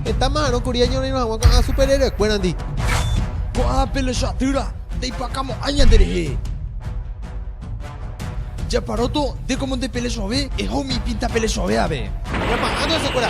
Heta ma'arõ kuri añorairõ hag̃ua ko'ã superhéroekuérandi. Ko'ã pelechadýra ndaipakamo'ãi ñanderehe. Japaróto nde kómo ndepelechove, eho umi ipinta pelechove ave. Ñama'ãta hesekuéra.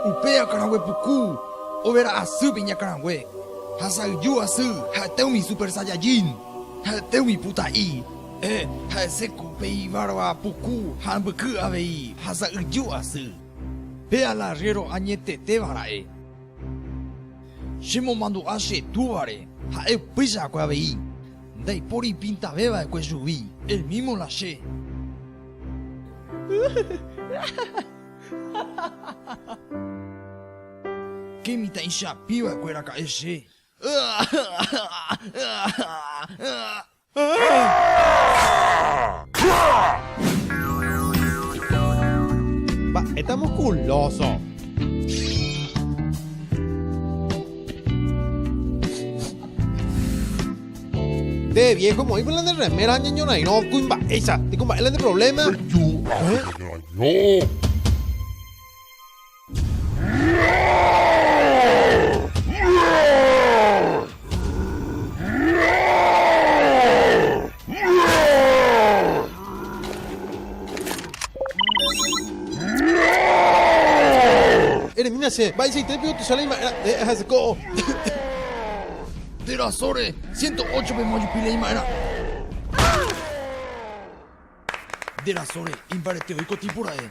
Upe akãrangue puku overa asýpe iñakãrangue, ha sa'yju asy ha'ete umi Super Saiyajin, ha'ete umi puta'i, eh, ha hese ko pe ibarba puku ha ambyky avei ha sa'yju asy. Pe ala rréro añetetéva ra'e, chemomandu'a che Túvare, ha'e upéicha va'ekue avei. Ndaipóri ipintave va'ekue chugui, el mismo la che. Che mitãichapi va'ekue raka'e che. Mba'éta musculoso. Nde viejo moĩ con la de remera ñañorairõ kuimba'éicha nikumba'e la de problema. Eremína che, mba'eichaite peiotýicha la ima'erã eh ahase ko'o. Térã sóre, siénto ócho pe mojupi la ima'erã. Térã sóre, imbarete oiko tipo ra'e.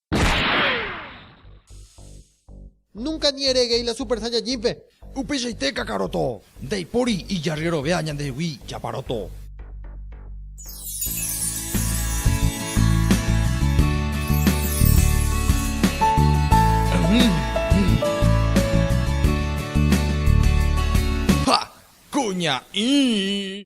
Núnka ni ereguéi la Super Saiyajínpe. Upeichaite Kakaroto, ndaipóri ijaryerovia ñandehegui Chaparoto. Ha! Kuña'i!